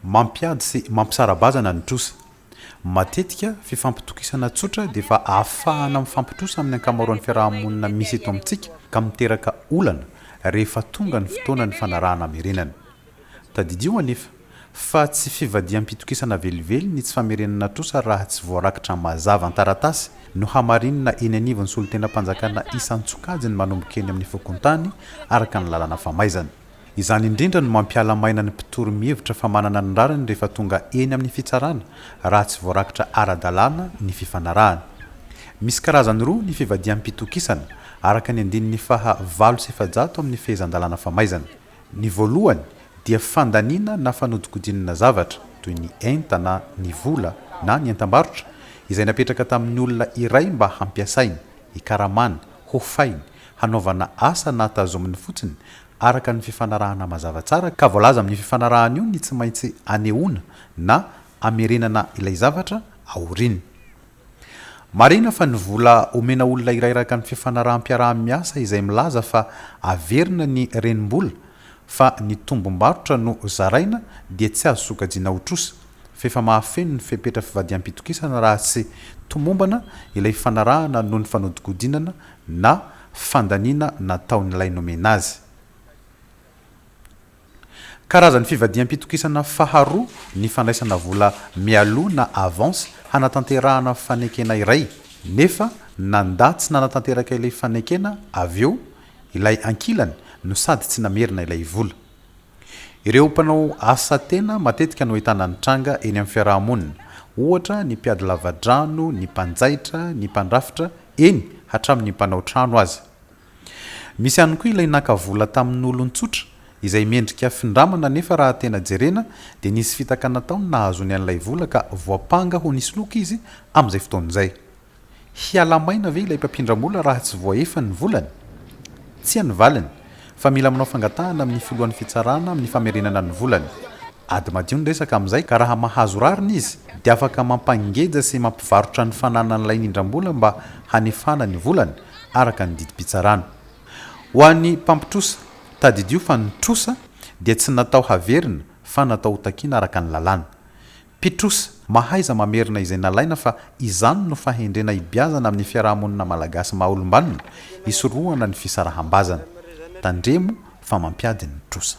Mampiady sy mampisara-bazana ny trosa. Matetika, fifampitokisana tsotra dia efa ahafahana mifampitrosa amin'ny ankamaroan'ny fiaraha-monina misy eto amintsika ka miteraka olana rehefa tonga ny fotoana nifanarahana hamerenana. Tadidio anefa, fa tsy fivadiham-pitokisana velively ny tsy famerenana trosa raha tsy voarakitra mazava an-taratasy no hamarinina eny anivon'ny solontenam-panjakana isan-tsokajiny manomboka eny amin'ny fokontany araka ny lalana famaizana. Izany indrindra no mampiala maina ny mpitory mihevitra fa manana ny rariny rehefa tonga eny amin'ny fitsarana raha tsy voarakitra ara-dalàna ny fifanarahana. Misy karazany roa ny fivadiham-pitokisana, araka ny andininy faha valo sy efajato amin'ny Fehezan-dalàna famaizana. Ny voalohany dia fandaniana na fanodikodinana zavatra, toy ny enta na ny vola na ny entam-barotra, izay napetraka tamin'ny olona iray mba hampiasainy, hikaramany, hofainy, hanaovana asa na tazominy fotsiny araka ny fifanarahana mazava tsara ka voalaza amin'io fifanarahana io ny tsy maintsy anehoana na amerenana ilay zavatra aoriany. Marihina fa ny vola omena olona iray araka ny fifanaraham-piaraha-miasa izay milaza fa averina ny renim-bola fa ny tombom-barotra no zaraina dia tsy azo sokajiana ho trosa fa efa mahafeno ny fepetra fivadiham-pitokisana raha tsy tomombana ilay fifanarahana noho ny fanodikodinana na fandaniana nataon'ilay nomena azy. Karazan'ny fivadiham-pitokisana faharoa ny fandraisana vola mialoha na avance hanatanterahana fanekena iray, nefa nandà tsy nanatanteraka ilay fanekena avy eo ilay ankilany no sady tsy namerina ilay vola. Ireo mpanao asa tena matetika no ahitana ny tranga eny amin'ny fiaraha-monina, ohatra ny mpiady lavadrano, ny mpanjaitra, ny mpandrafitra, eny, hatramin'ny mpanao trano aza. Misy ihany koa ilay naka vola tamin'olon-tsotra, izay mendrika findramana nefa raha tena jerena dia nisy fitaka nataony nahazoany an'ilay vola ka voampanga ho nisoloky izy amin'izay fotoana izay. Hiala-maina ve ilay mpampindram-bola raha tsy voaefa ny volany? Tsia ny valiny, Fa mila manao fangatahana amin'ny filohan'ny fitsarana amin'ny famerenana ny volany. Ady madio ny resaka amin'izay ka raha mahazo rariny izy dia afaka mampangeja sy mampivarotra ny fananany lain'indrambola mba hanefana ny volany araka ny didim-pitsarana. Ho an'ny mpampitrosa, tadidio fa ny trosa dia tsy natao haverina fa natao hotakiana araka ny lalàna. Pitrosa, mahaiza mamerina izay nalaina fa izany no fahendrena hibiazana amin'ny fiaraha-monina malagasy maha olom-banona, hisorohana ny fisaraham-bazana. Tandremo fa mampiady ny trosa.